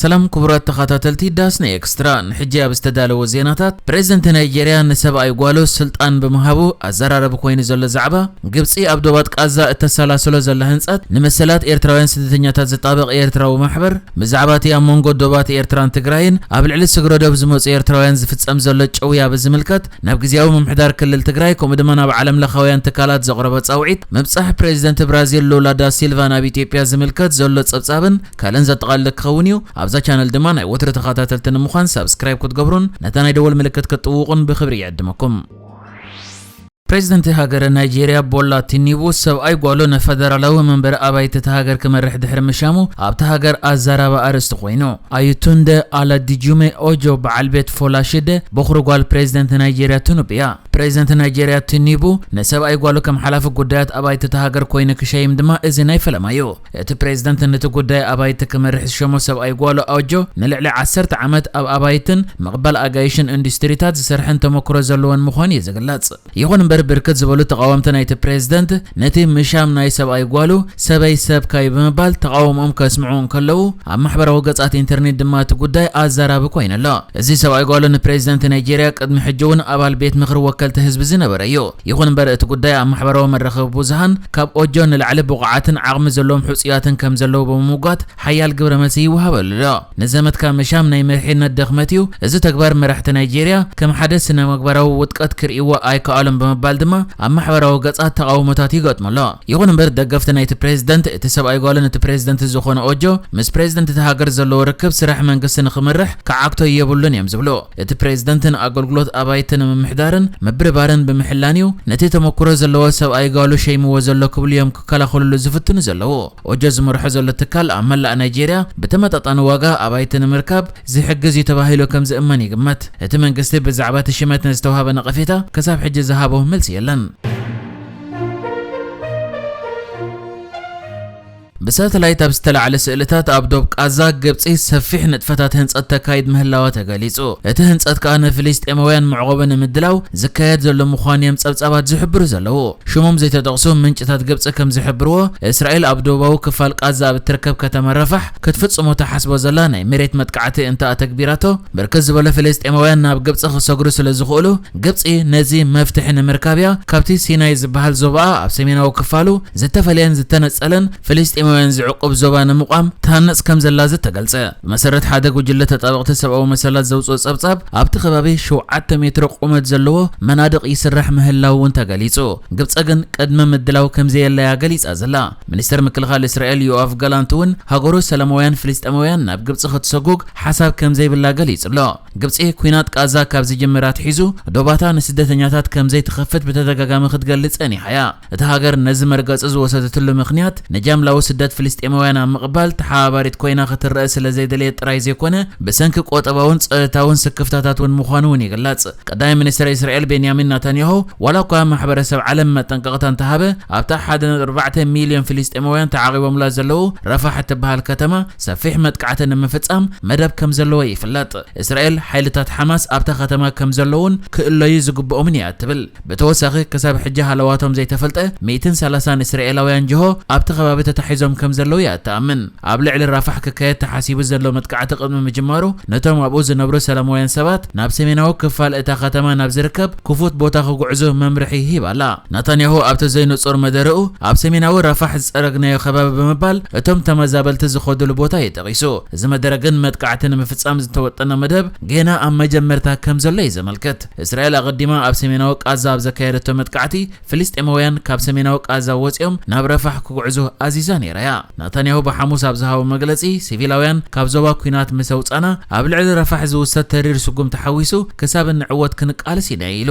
ሰላም ክቡራት ተኻታተልቲ ዳስና ኤክስትራ ንሕጂ ኣብ ዝተዳለወ ዜናታት ፕረዚደንት ናይጀርያ ንሰብኣይ ጓሉ ስልጣን ብምሃቡ ኣዛራረቢ ኮይኑ ዘሎ ዛዕባ ግብጺ ኣብ ዶባት ቃዛ እተሰላስሎ ዘላ ህንጸት ንመሰላት ኤርትራውያን ስደተኛታት ዝጣበቕ ኤርትራዊ ማሕበር ብዛዕባ እቲ ኣብ መንጎ ዶባት ኤርትራን ትግራይን ኣብ ልዕሊ ስግረዶብ ዝመጹ ኤርትራውያን ዝፍጸም ዘሎ ጭውያ ብዝምልከት ናብ ግዝያዊ ምምሕዳር ክልል ትግራይ ከምኡ ድማ ናብ ዓለምለኻውያን ትካላት ዘቕረቦ ጻውዒት ምብጻሕ ፕረዚደንት ብራዚል ሉላ ዳሲልቫ ናብ ኢትዮጵያ ዝምልከት ዘሎ ጸብጻብን ካልእን ዘጠቓልል ክኸውን እዩ። ኣብዛ ቻነል ድማ ናይ ወትሩ ተኸታተልቲ ንምዃን ሳብስክራይብ ክትገብሩን ነታ ናይ ደወል ምልክት ክትጥውቑን ብኽብሪ ይዕድመኩም። ፕሬዚደንት ሃገረ ናይጄሪያ ቦላ ቲኒቡ ሰብኣይ ጓሉ ንፈደራላዊ መንበሪ ኣባይቲ እታ ሃገር ክመርሕ ድሕሪ ምሻሙ ኣብታ ሃገር ኣዛራቢ ኣርእስቲ ኮይኑ፣ ኣዩቱንደ ኣላዲጁሜ ኦጆ በዓል ቤት ፎላሽደ ቦኽሪ ጓል ፕሬዚደንት ናይጄሪያ ቲኑብ እያ። ፕሬዚደንት ናይጄሪያ ቲኒቡ ንሰብኣይ ጓሉ ከም ሓላፊ ጉዳያት ኣባይቲ እታ ሃገር ኮይኑ ክሸይም ድማ እዚ ናይ ፈለማ እዩ። እቲ ፕሬዝደንት ንቲ ጉዳይ ኣባይቲ ክመርሕ ዝሸሞ ሰብኣይ ጓሉ ኣውጆ ንልዕሊ ዓሰርተ ዓመት ኣብ ኣባይትን ምቕባል ኣጋይሽን እንዱስትሪታት ዝሰርሐን ተሞክሮ ዘለዎን ምዃኑ እዩ ዝግለጽ። ይኹን እምበር ብርክት ዝበሉ ተቓወምቲ ናይቲ ፕሬዝደንት ነቲ ምሻም ናይ ሰብኣይ ጓሉ ሰበይ ሰብካይ ብምባል ተቓውምኦም ከስምዑ እንከለዉ ኣብ ማሕበራዊ ገጻት ኢንተርኔት ድማ እቲ ጉዳይ ኣዛራቢ ኮይኑ ኣሎ። እዚ ሰብኣይ ጓሉ ንፕሬዝደንት ናይጀርያ ቅድሚ ሕጂ'ውን ኣባል ቤት ምኽሪ ወከልቲ ህዝቢ ዝነበረ እዩ። ይኹን እምበር እቲ ጉዳይ ኣብ ማሕበራዊ መራኸቢ ብዙሃን ካብ ኦጆ ንላዕሊ ብቑዓትን ዓቕሚ ዘለዎም ሕፁያትን ከምዘለዉ ብምምጓት ሓያል ግብረ መልሲ ይወሃበሉ ኣሎ። ንዘመትካ ምሻም ናይ መሪሕነት ድኽመት እዩ፣ እዚ ተግባር መራሕቲ ናይጄሪያ ከም ሓደ ስነምግባራዊ ውድቀት ክርእይዎ ኣይከኣሉን ብምባል ድማ ኣብ ማሕበራዊ ገፃት ተቓውሞታት ይገጥሙ ኣሎ። ይኹን እምበር ደገፍቲ ናይቲ ፕሬዝደንት እቲ ሰብኣይ ጓልን እቲ ፕሬዝደንት ዝኾነ ኦጆ ምስ ፕሬዝደንት እታ ሃገር ዘለዎ ርክብ ስራሕ መንግስቲ ንኽምርሕ ክዓግቶ የብሉን እዮም ዝብሉ። እቲ ፕሬዝደንት ንኣገልግሎት ኣባይቲ ንምምሕዳርን ምብርባርን ብምሕላን እዩ ነቲ ተመኩሮ ዘለዎ ሰብኣይ ጓሉ ሸይምዎ ዘሎ ክብሉ እዮም ክከላኸልሉ ዝፍትኑ ዘለዉ። ኦጆ ዝመርሖ ዘሎ ትካል ኣብ መላእ ናይጄርያ ብተመጣጣኒ ዋጋ ኣባይቲ ንምርካብ ዝሕግዝ እዩ ተባሂሉ ከምዝእመን ይግመት። እቲ መንግስቲ ብዛዕባ እቲ ሽመት ንዝተውሃበ ነቐፌታ ክሳብ ሕጂ ዝሃቦ መልሲ የለን። ብሳተላይት ኣብ ዝተላዕለ ስእልታት ኣብ ዶብ ቃዛ፣ ግብጺ ሰፊሕ ንጥፈታት ህንጸት ተካይድ ምህላዋ ተገሊጹ። እቲ ህንጸት ከኣ ንፍልስጤማውያን መዕቆቢ ንምድላው ዝካየድ ዘሎ ምዃኑ'ዮም ጸብጻባት ዝሕብሩ ዘለዉ። ሽሞም ዘይተጠቕሱ ምንጭታት ግብጺ ከም ዝሕብርዎ፣ እስራኤል ኣብ ዶባዊ ክፋል ቃዛ ኣብ እትርከብ ከተማ ራፋሕ ክትፍጽሞ ትሓስቦ ዘላ ናይ መሬት መጥቃዕቲ እንተ ኣተግቢራቶ፣ ብርክት ዝበሉ ፍልስጤማውያን ናብ ግብጺ ክሰግሩ ስለ ዝኽእሉ፣ ግብጺ ነዚ መፍትሒ ንምርካብ'ያ ካብቲ ሲናይ ዝበሃል ዞባኣ ኣብ ሰሜናዊ ክፋሉ ዝተፈለየን ዝተነጸለን ፍልስጤማውያን ዝዕቁብ ዞባ ንምቛም ትሃንጽ ከምዘላ ዝተገልጸ፣ ብመሰረት ሓደ ጉጅለ ተጣበቕቲ ሰብኣዊ መሰላት ዘውጽኦ ጸብጻብ፣ ኣብቲ ከባቢ ሸውዓተ ሜትሮ ቁመት ዘለዎ መናድቕ ይስራሕ ምህላዉ'ውን ተገሊጹ። ግብጸ ግን ቅድመ ምድላው ከምዘየላ'ያ ገሊጻ ዘላ። ሚኒስተር ምክልኻል እስራኤል ዮኣቭ ጋላንት'ውን ሃገሩ ሰላማውያን ፍልስጤማውያን ናብ ግብጺ ክትሰጉግ ሓሳብ ከምዘይብላ ገሊጹ'ሎ። ግብጺ ኲናት ቓዛ ካብ ዝጅምር ኣትሒዙ ዶባታ ንስደተኛታት ከምዘይትኸፍት ብተደጋጋሚ ክትገልጽ ጸኒሓ'ያ። እታ ሃገር ነዚ መርገጺ ዝወሰደትሉ ምኽንያት፣ ንጃምላዊ ስደት ፍልስጤማውያን ኣብ ምቕባል ተሓባባሪት ኮይና ክትረኣ ስለ ዘይደለየት ጥራይ ዘይኮነ፣ ብሰንኪ ቈጠባውን ጸጥታውን ስክፍታታት እውን ምዃኑ እውን ይግለጽ። ቀዳማይ ሚኒስተር እስራኤል ቤንያሚን ናታንያሁ፣ ዋላ እኳ ማሕበረሰብ ዓለም መጠንቀቕታ እንተሃበ፣ ኣብታ ሓደ ነጥቢ ኣርባዕተ ሚልዮን ፍልስጤማውያን ተዓቚቦምላ ዘለዉ ራፋሕ እትበሃል ከተማ ሰፊሕ መጥቃዕቲ ንምፍጻም መደብ ከም ዘለዎ ይፍለጥ። እስራኤል፣ ሓይልታት ሓማስ ኣብታ ከተማ ከም ዘለዉን ክእለዩ ዝግብኦምን እያ እትብል። ብተወሳኺ ክሳብ ሕጂ ሃለዋቶም ዘይተፈልጠ ሚእትን ሰላሳን እስራኤላውያን ጅሆ ኣብቲ ከባቢ ተታሒዞም ከምዘለዉ እያ እትኣምን። ኣብ ልዕሊ ራፋሕ ክካየድ ተሓሲቡ ዘሎ መጥቃዕቲ ቅድሚ ምጅማሩ ነቶም ኣብኡ ዝነብሩ ሰላማውያን ሰባት ናብ ሰሜናዊ ክፋል እታ ከተማ ናብ ዝርከብ ክፉት ቦታ ክጉዕዙ መምርሒ ሂባ ኣላ። ናታንያሁ ኣብቲ ዘይንጹር መደረኡ ኣብ ሰሜናዊ ራፋሕ ዝጸረግናዮ ከባቢ ብምባል እቶም ተመዛበልቲ ዝኸዱሉ ቦታ እዩ ጠቒሱ። እዚ መደረ ግን መጥቃዕቲ ንምፍጻም ዝተወጠነ መደብ ጌና ኣብ መጀመርታ ከምዘሎ እዩ ዘመልክት። እስራኤል ኣቐዲማ ኣብ ሰሜናዊ ቃዛ ኣብ ዘካየደቶ መጥቃዕቲ፣ ፍልስጤማውያን ካብ ሰሜናዊ ቃዛ ወጺኦም ናብ ረፋሕ ክጕዕዙ ኣዚዛ ነይራ እያ። ናታንያሁ ብሓሙስ ኣብ ዝሃቦ መግለጺ፣ ሲቪላውያን ካብ ዞባ ኲናት ምስ ኣውጻእና፣ ኣብ ልዕሊ ረፋሕ ዝውሰድ ተሪር ስጕምቲ ሓዊሱ ክሳብ እንዕወት ክንቃለስ ኢና ኢሉ።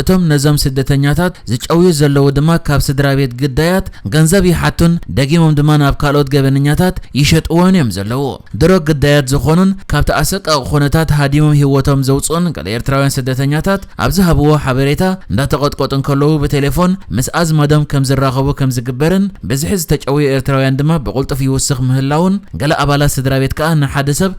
እቶም ነዞም ስደተኛታት ዝጨውዩ ዘለዉ ድማ ካብ ስድራቤት ግዳያት ገንዘብ ይሓቱን ደጊሞም ድማ ናብ ካልኦት ገበነኛታት ይሸጥዎን እዮም ዘለዉ። ድሮ ግዳያት ዝኾኑን ካብቲ ኣሰቃቒ ኩነታት ሃዲሞም ህይወቶም ዘውጽኡን ገለ ኤርትራውያን ስደተኛታት ኣብ ዝሃብዎ ሓበሬታ እንዳተቐጥቆጡ እንከለዉ ብቴሌፎን ምስ ኣዝማዶም ከም ዝራኸቡ ከም ዝግበርን ብዝሒ ዝተጨውዩ ኤርትራውያን ድማ ብቕልጡፍ ይውስኽ ምህላዉን ገለ ኣባላት ስድራቤት ከኣ ንሓደ ሰብ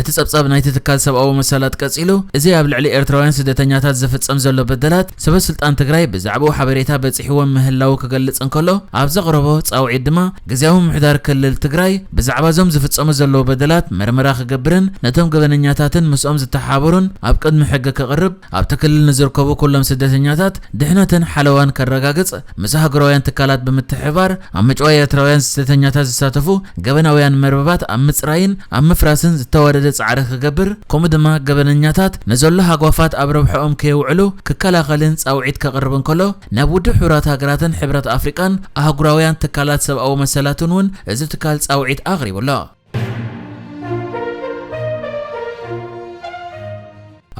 እቲ ጸብጻብ ናይቲ ትካል ሰብኣዊ መሰላት ቀጺሉ፣ እዚ ኣብ ልዕሊ ኤርትራውያን ስደተኛታት ዝፍጸም ዘሎ በደላት፣ ሰበስልጣን ትግራይ ብዛዕባኡ ሓበሬታ በጺሕዎም ምህላዉ ክገልጽ እንከሎ፣ ኣብ ዘቕረቦ ጻውዒት ድማ፣ ግዝያዊ ምምሕዳር ክልል ትግራይ፣ ብዛዕባ እዞም ዝፍጸሙ ዘለዉ በደላት መርመራ ክገብርን ነቶም ገበነኛታትን ምስኦም ዝተሓባበሩን ኣብ ቅድሚ ሕጊ ከቕርብ ኣብቲ ክልል ንዝርከቡ ኩሎም ስደተኛታት ድሕነትን ሓለዋን ከረጋግፅ ምስ ኣህጉራውያን ትካላት ብምትሕብባር ኣብ ምጭዋይ ኤርትራውያን ስደተኛታት ዝሳተፉ ገበናውያን መርበባት ኣብ ምፅራይን ኣብ ምፍራስን ዝተዋደደ ፃዕሪ ክገብር ከምኡ ድማ ገበነኛታት ንዘሎ ሃጓፋት ኣብ ረብሕኦም ከየውዕሉ ክከላኸልን ፃውዒት ከቕርብ እንከሎ ናብ ውድብ ሕቡራት ሃገራትን ሕብረት ኣፍሪቃን ኣህጉራውያን ትካላት ሰብኣዊ መሰላትን እውን እዚ ትካል ፃውዒት ኣቕሪቡ ኣሎ።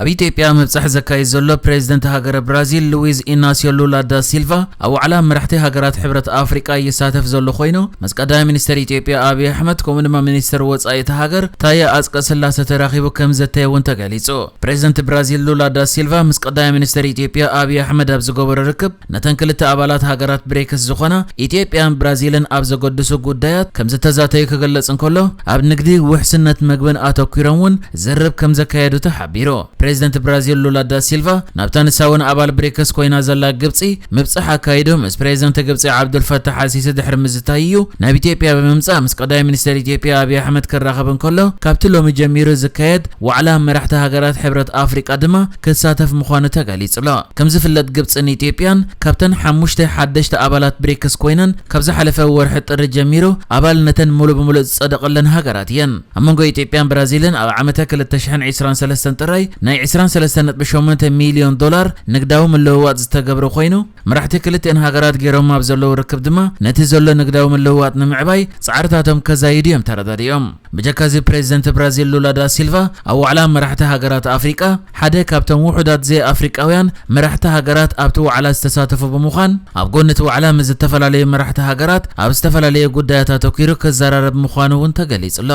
ኣብ ኢትዮጵያ ምብጻሕ ዘካይድ ዘሎ ፕሬዚደንት ሃገረ ብራዚል ሉዊዝ ኢናስዮ ሉላ ዳ ሲልቫ ኣብ ዋዕላ መራሕቲ ሃገራት ሕብረት ኣፍሪቃ ይሳተፍ ዘሎ ኮይኑ ምስ ቀዳማይ ሚኒስትር ኢትዮጵያ ኣብዪ ኣሕመድ ከምኡ ድማ ሚኒስትር ወፃኢ እቲ ሃገር ታየ ኣፅቀ ስላሰ ተራኺቡ ከም ዘተየ እውን ተገሊፁ። ፕሬዚደንት ብራዚል ሉላ ዳ ሲልቫ ምስ ቀዳማይ ሚኒስትር ኢትዮጵያ ኣብዪ ኣሕመድ ኣብ ዝገበሮ ርክብ ነተን ክልተ ኣባላት ሃገራት ብሬክስ ዝኾና ኢትዮጵያን ብራዚልን ኣብ ዘገድሱ ጉዳያት ከምዝተዛተዩ ክግለጽ እንከሎ፣ ኣብ ንግዲ፣ ውሕስነት መግብን ኣተኲሮም እውን ዝርርብ ከምዘካየዱ ተሓቢሩ። ፕሬዚደንት ብራዚል ሉላ ዳሲልቫ ናብታ ንሳ እውን ኣባል ብሬክስ ኮይና ዘላ ግብጺ ምብጻሕ ኣካይዱ ምስ ፕሬዚደንት ግብጺ ዓብዱልፋታሕ ኣልሲሲ ድሕሪ ምዝታዩ እዩ ናብ ኢትዮጵያ ብምምጻእ ምስ ቀዳማይ ሚኒስተር ኢትዮጵያ ኣብይ ኣሕመድ ክራኸብ እንከሎ ካብቲ ሎሚ ጀሚሩ ዝካየድ ዋዕላ መራሕቲ ሃገራት ሕብረት ኣፍሪቃ ድማ ክሳተፍ ምዃኑ ተገሊጹ'ሎ። ከም ዝፍለጥ ግብጽን ኢትዮጵያን ካብተን ሓሙሽተ ሓደሽቲ ኣባላት ብሪክስ ኮይነን ካብ ዝሓለፈ ወርሒ ጥሪ ጀሚሩ ኣባልነተን ሙሉእ ብሙሉእ ዝጸደቐለን ሃገራት እየን። ኣብ መንጎ ኢትዮጵያን ብራዚልን ኣብ ዓመተ ክልተ ሽሕን ዕስራን ሰለስተን ጥራይ ናይ ዕስራን ሰለስተን ነጥቢ ሸሞንተ ሚልዮን ዶላር ንግዳዊ ምልውዋጥ ዝተገብረ ኮይኑ መራሕቲ ክልቲኤን ሃገራት ጌሮሞ ኣብ ዘለዉ ርክብ ድማ ነቲ ዘሎ ንግዳዊ ምልውዋጥ ንምዕባይ ጻዕርታቶም ከዛይዱ እዮም ተረዳዲኦም። ብጀካ እዚ ፕረዚደንት ብራዚል ሉላ ዳ ሲልቫ ኣብ ዋዕላ መራሕቲ ሃገራት ኣፍሪቃ ሓደ ካብቶም ውሑዳት ዘይኣፍሪቃውያን መራሕቲ ሃገራት ኣብቲ ዋዕላ ዝተሳተፉ ብምዃን ኣብ ጎኒ እቲ ዋዕላ ምስ ዝተፈላለዩ መራሕቲ ሃገራት ኣብ ዝተፈላለዩ ጉዳያት ኣተኲሩ ክዘራረብ ምዃኑ እውን ተገሊጹ'ሎ።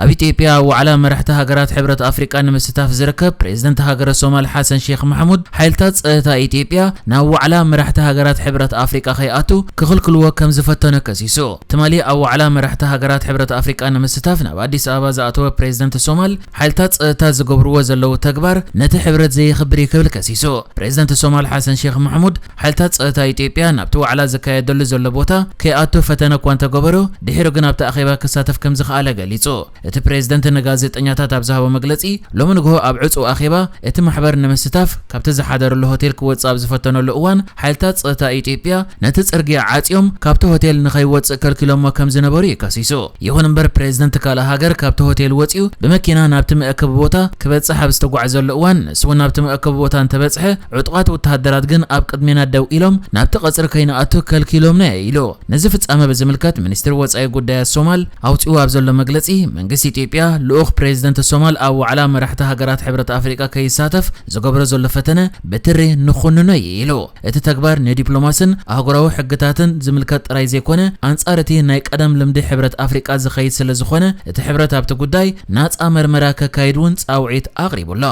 ኣብ ኢትዮጵያ ኣብ ዋዕላ መራሕቲ ሃገራት ሕብረት ኣፍሪቃ ንምስታፍ ዝርከብ ፕሬዝደንት ሃገረ ሶማል ሓሰን ሼኽ ማሕሙድ፣ ሓይልታት ጸጥታ ኢትዮጵያ ናብ ዋዕላ መራሕቲ ሃገራት ሕብረት ኣፍሪቃ ከይኣቱ ክኽልክልዎ ከምዝፈተኑ ከሲሱ። ትማሊ ኣብ ዋዕላ መራሕቲ ሃገራት ሕብረት ኣፍሪቃ ንምስታፍ ናብ ኣዲስ ኣበባ ዝኣተወ ፕሬዝደንት ሶማል፣ ሓይልታት ጸጥታ ዝገብርዎ ዘለዉ ተግባር ነቲ ሕብረት ዘየኽብር እዩ ክብል ከሲሱ። ፕሬዝደንት ሶማል ሓሰን ሼኽ ማሕሙድ፣ ሓይልታት ጸጥታ ኢትዮጵያ ናብቲ ዋዕላ ዝካየደሉ ዘሎ ቦታ ከይኣቱ ፈተነ እኳ እንተገበሩ፣ ድሒሩ ግን ኣብቲ ኣኼባ ክሳተፍ ከም ዝኸኣለ ገሊጹ። እቲ ፕሬዝደንት ንጋዜጠኛታት ኣብ ዝሃቦ መግለጺ፣ ሎሚ ንግሆ ኣብ ዕጹው ኣኼባ እቲ ማሕበር ንምስታፍ ካብቲ ዝሓደረሉ ሆቴል ክወጽእ ኣብ ዝፈተነሉ እዋን ሓይልታት ጸጥታ ኢትዮጵያ ነቲ ጽርግያ ዓጽዮም ካብቲ ሆቴል ንኸይወጽእ ከልኪሎሞ ከም ዝነበሩ እዩ ከሲሱ። ይኹን እምበር ፕሬዝደንት ካልእ ሃገር ካብቲ ሆቴል ወፂኡ ብመኪና ናብቲ መእከቢ ቦታ ክበፅሕ ኣብ ዝተጓዕዘሉ እዋን ንሱ እውን ናብቲ መእከቢ ቦታ እንተበፅሐ ዕጡቓት ወተሃደራት ግን ኣብ ቅድሜና ደው ኢሎም ናብቲ ቀፅሪ ከይንኣቱ ከልኪሎምና ኢዩ ኢሉ። ነዚ ፍፃመ ብዝምልከት ሚኒስትሪ ወፃኢ ጉዳያት ሶማል ኣውፂእዎ ኣብ ዘሎ መግለፂ መንግስቲ ኢትዮጵያ ልኡኽ ፕሬዝደንት ሶማል ኣብ ዋዕላ መራሕቲ ሃገራት ሕብረት ኣፍሪቃ ከይሳተፍ ዝገብሮ ዘሎ ፈተነ ብትሪ ንኹንኖ ኢዩ ኢሉ። እቲ ተግባር ንዲፕሎማስን ኣህጉራዊ ሕግታትን ዝምልከት ጥራይ ዘይኮነ፣ ኣንጻር እቲ ናይ ቀደም ልምዲ ሕብረት ኣፍሪቃ ዝኸይድ ስለዝኾነ፣ እቲ ሕብረት ኣብቲ ጉዳይ ናጻ መርመራ ከካይድ እውን ጻውዒት ኣቕሪቡ ኣሎ።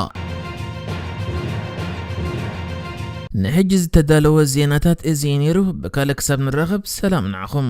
ንሕጂ ዝተዳለወ ዜናታት እዚ እዩ ነይሩ። ብካልእ ክሳብ ንራኸብ ሰላም ንዓኹም።